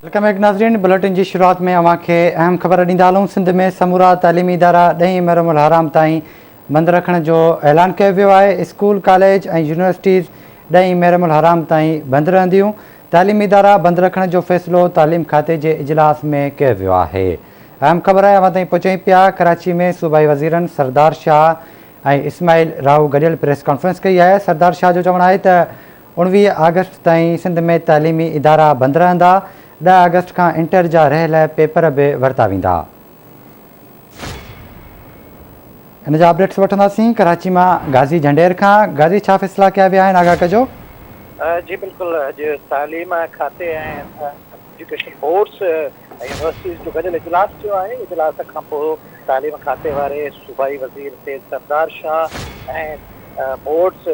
Welcome back ناظرين bulletin جي شروعات ۾ اوهان کي اهم خبر ڏيندا هلون سنڌ ۾ سمورا تعليمي ادارا ڏهين محرم الحرام تائين بند رکڻ جو اعلان ڪيو ويو آهي اسڪول ڪاليج ۽ يونيورسٽيز ڏهين محرم الحرام تائين بند رهنديون تعليمي ادارا بند رکڻ جو فيصلو تعليم کاتي جي اجلاس ۾ ڪيو ويو آهي اهم خبر اوهان تائين پهچائين پيا ڪراچي ۾ صوبائي وزيرن سردار شاهه ۽ اسماعيل راهو گڏيل پريس ڪانفرنس ڪئي آهي سردار شاهه جو چوڻ آهي ته اوڻويهه آگسٽ تائين سنڌ ۾ تعليمي ادارا بند رهندا، ڏهه آگسٽ کان انٽر جا رهيل پيپر به ورتا ويندا. ان جا اپڊيٽس وٺنداسين ڪراچي مان غازي جهنڊير کان، غازي ڇا فيصلا ڪيا ويا آهن آگاهه ڪجو. جي بلڪل اڄ تعليم کاتي ۽ ايجوڪيشن بورڊز ۽ يونيورسٽيز جو گڏيل اجلاس ٿيو آهي، اجلاس کانپوء تعليم کاتي واري صوبائي وزير سيد سردار شاهه ۽ بورڊز،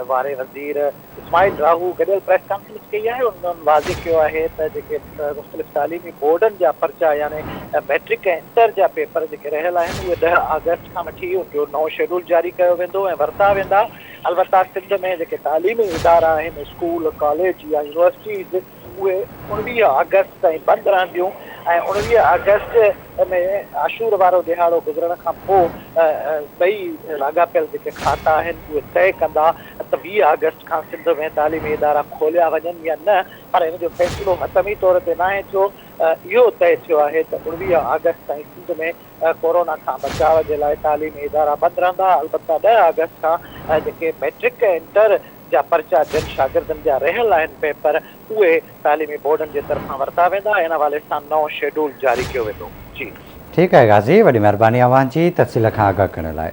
واري وزير اسماعيل راهو گڏيل پريس ڪانفرنس ڪئي آهي انهن واضح ڪيو آهي ته جيڪي مختلف تعليمي بورڊن جا پرچا يعني مئٽرڪ ۽ انٽر جا پيپر جيڪي رهيل آهن اهي ڏهه آگسٽ کان وٺي ان جو نئون شيڊول جاري ڪيو ويندو ۽ ورتا ويندا البته سنڌ ۾ جيڪي تعليمي ادارا آهن اسڪول ڪاليج يا يونيورسٽيز اهي اوڻويهه آگسٽ تائين بند رهنديون ۽ اوڻويهه آگسٽ ۾ عاشور وارو ڏهاڙو گذرڻ کان پوء ٻئي لاڳاپيل جيڪي کاتا آهن اهي طئي ڪندا ته ويهه آگسٽ کان سنڌ ۾ تعليمي ادارا کوليا وڃن يا نه پر ان جو فيصلو حتمي طور تي ناهي ٿيو اهو طئي ٿيو آهي ته اوڻويهه آگسٽ تائين سنڌ ۾ ڪورونا کان بچاء جي لاء تعليمي ادارا بند رهندا البته ڏهه آگسٽ کان جيڪي مئٽرڪ ۽ انٽر جا پرچا جن شاگردن جا رهيل آهن پيپر اهي تعليمي بورڊن جي طرفان ورتا ويندا ان حوالي سان نئون شيڊول جاري ڪيو ويندو جي. ٺيڪ آهي غازي وڏي مهرباني اوهان جي تفصيل کان آگاهه ڪرڻ لاء.